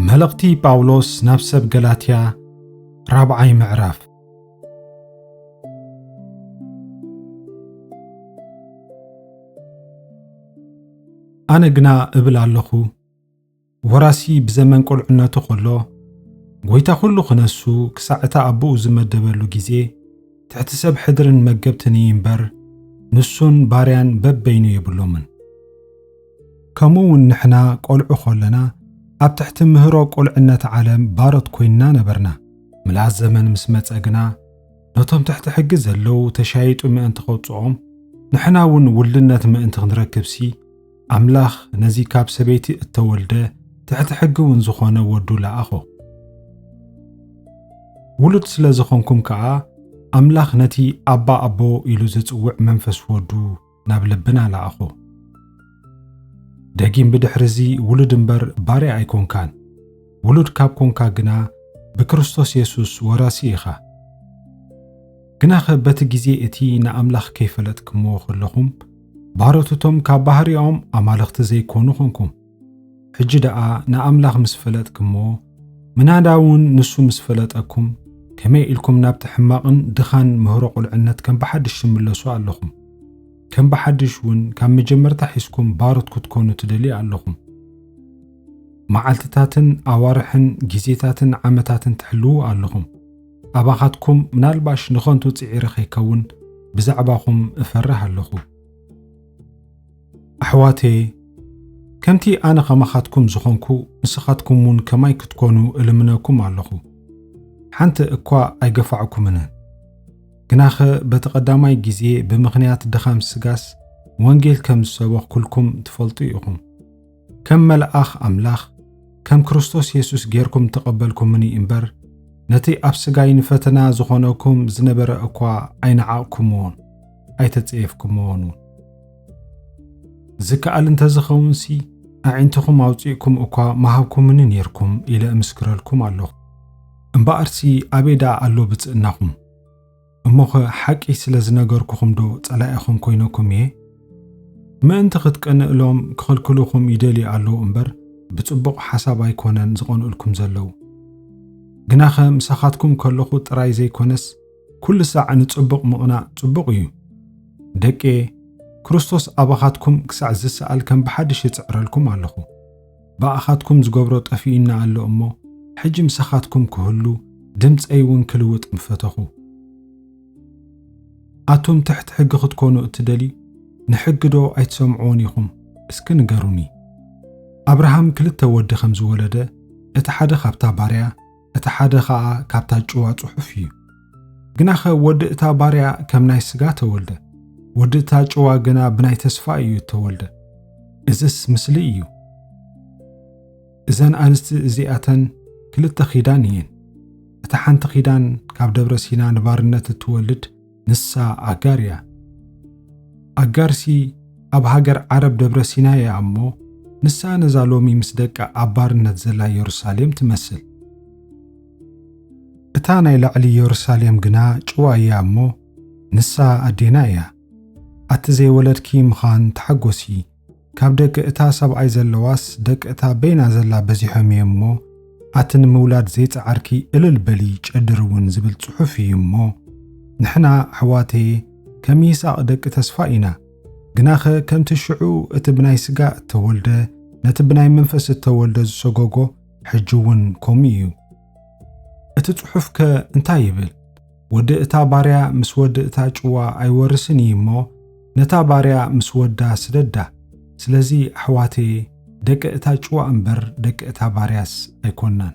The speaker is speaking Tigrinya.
መልእኽቲ ጳውሎስ ናብ ሰብ ገላትያ ራብዓይ ምዕራፍ ኣነ ግና እብል ኣለኹ ወራሲ ብዘመን ቁልዕነቱ ከሎ ጎይታ ኩሉ ክነሱ ክሳዕ እታ ኣቦኡ ዝመደበሉ ግዜ ትሕቲ ሰብ ሕድርን መገብትን እዩ እምበር ንሱን ባርያን በበይኑ የብሎምን። ከምኡ እውን ንሕና ቆልዑ ከለና ኣብ ትሕቲ ምህሮ ቁልዕነት ዓለም ባሮት ኮይንና ነበርና። ምልኣት ዘመን ምስ መጸ ግና ነቶም ትሕቲ ሕጊ ዘለዉ ተሻይጡ ምእንቲ ከውጽኦም ንሕና እውን ውልድነት ምእንቲ ክንረክብሲ ኣምላኽ ነዚ ካብ ሰበይቲ እተወልደ ትሕቲ ሕጊ እውን ዝኾነ ወዱ ለኣኾ። ውሉድ ስለ ዝኾንኩም ከኣ ኣምላኽ ነቲ ኣባ ኣቦ ኢሉ ዝጽውዕ መንፈስ ወዱ ናብ ልብና ለኣኾ። ደጊም ብድሕሪ እዚ ውሉድ እምበር ባርያ ኣይኮንካን፣ ውሉድ ካብ ኮንካ ግና ብክርስቶስ የሱስ ወራሲ ኢኻ። ግናኸ በቲ ግዜ እቲ ንኣምላኽ ከይፈለጥክምዎ ከለኹም ባሮትቶም ካብ ባህሪኦም ኣማልኽቲ ዘይኮኑ ኹንኩም። ሕጂ ደኣ ንኣምላኽ ምስ ፈለጥክሞ ምናዳ እውን ንሱ ምስ ፈለጠኩም ከመይ ኢልኩም ናብቲ ሕማቕን ድኻን ምህሮ ቁልዕነት ከም ብሓድሽ ትምለሱ ኣለኹም። ከም ብሓድሽ እውን ካብ መጀመርታ ሒዝኩም ባሮት ክትኮኑ ትደልዩ ኣለኹም። መዓልትታትን ኣዋርሕን ግዜታትን ዓመታትን ትሕልዉ ኣለኹም። ኣባኻትኩም ምናልባሽ ንኸንቱ ጽዒረ ከይከውን ብዛዕባኹም እፈርህ ኣለኹ። ኣሕዋተየ ከምቲ ኣነ ኸማኻትኩም ዝኾንኩ ንስኻትኩም እውን ከማይ ክትኮኑ እልምነኩም ኣለኹ። ሓንቲ እኳ ኣይገፋዕኩምን። ግናኸ በቲ ቐዳማይ ግዜ ብምኽንያት ድኻም ስጋስ ወንጌል ከም ዝሰበኽኩልኩም ትፈልጡ ኢኹም። ከም መልኣኽ ኣምላኽ ከም ክርስቶስ የሱስ ጌርኩም ተቐበልኩምኒ እምበር፣ ነቲ ኣብ ስጋይ ንፈተና ዝኾነኩም ዝነበረ እኳ ኣይነዓቕኩምዎን ኣይተጸየፍኩምዎን እውን። ዝከኣል እንተ ዝኸውንሲ ኣዒንትኹም ኣውጺእኩም እኳ ምሃብኩምኒ ኔርኩም ኢለ እምስክረልኩም ኣሎኹ። እምበኣርሲ ኣበይ ደኣ ኣሎ ብጽእናኹም? እሞኸ ሓቂ ስለ ዝነገርኩኹምዶ ጸላኢኹም ኮይነኩም እየ? ምእንቲ ኽትቀንእሎም ክኽልክሉኹም ይደልዩ ኣለዉ እምበር፣ ብጽቡቕ ሓሳብ ኣይኰነን ዝቐንኡልኩም ዘለዉ። ግናኸ ምሳኻትኩም ከለኹ ጥራይ ዘይኰነስ፣ ኵሉ ሳዕ ንጽቡቕ ምቕናእ ጽቡቕ እዩ። ደቅየ፣ ክርስቶስ ኣባኻትኩም ክሳዕ ዚሰኣል ከም ብሓድሽ እጽዕረልኩም ኣለኹ። ብኣኻትኩም ዝገብሮ ጠፊኡና ኣሎ እሞ፣ ሕጂ ምሳኻትኩም ክህሉ፣ ድምጸይውን ክልውጥ ምፈተኹ። ኣቱም ትሕቲ ሕጊ ክትኮኑ እትደልዩ፣ ንሕጊዶ ኣይትሰምዕዎን ኢኹም? እስኪ ንገሩኒ። ኣብርሃም ክልተ ወዲ ከም ዝወለደ፣ እቲ ሓደ ካብታ ባርያ፣ እቲ ሓደ ኸኣ ካብታ ጭዋ ጽሑፍ እዩ። ግናኸ ወዲ እታ ባርያ ከም ናይ ስጋ ተወልደ፣ ወዲ እታ ጭዋ ግና ብናይ ተስፋ እዩ እተወልደ። እዝስ ምስሊ እዩ። እዘን ኣንስቲ እዚኣተን ክልተ ኺዳን እየን። እታ ሓንቲ ኺዳን ካብ ደብረ ሲና ንባርነት እትወልድ፣ ንሳ ኣጋር እያ። ኣጋርሲ ኣብ ሃገር ዓረብ ደብረ ሲናይ እያ እሞ ንሳ ነዛ ሎሚ ምስ ደቃ ኣብ ባርነት ዘላ የሩሳሌም ትመስል። እታ ናይ ላዕሊ የሩሳሌም ግና ጭዋ እያ እሞ ንሳ ኣዴና እያ። ኣቲ ዘይወለድኪ ምኻን ተሓጎሲ ካብ ደቂ እታ ሰብኣይ ዘለዋስ ደቂ እታ በይና ዘላ በዚሖም እዮም እሞ ኣቲ ንምውላድ ዘይጸዓርኪ እልል በሊ ጨድሪ እውን ዝብል ጽሑፍ እዩ እሞ ንሕና ኣሕዋተየ ከም ይስኣቅ ደቂ ተስፋ ኢና ግናኸ ከምቲ ሽዑ እቲ ብናይ ስጋ እተወልደ ነቲ ብናይ መንፈስ እተወልደ ዝሰጎጎ ሕጂ እውን ከምኡ እዩ እቲ ጽሑፍ ከ እንታይ ይብል ወዲ እታ ባርያ ምስ ወዲ እታ ጭዋ ኣይወርስን እዪ እሞ ነታ ባርያ ምስ ወዳ ስደዳ ስለዚ ኣሕዋተየ ደቂ እታ ጭዋ እምበር ደቂ እታ ባርያስ ኣይኮናን።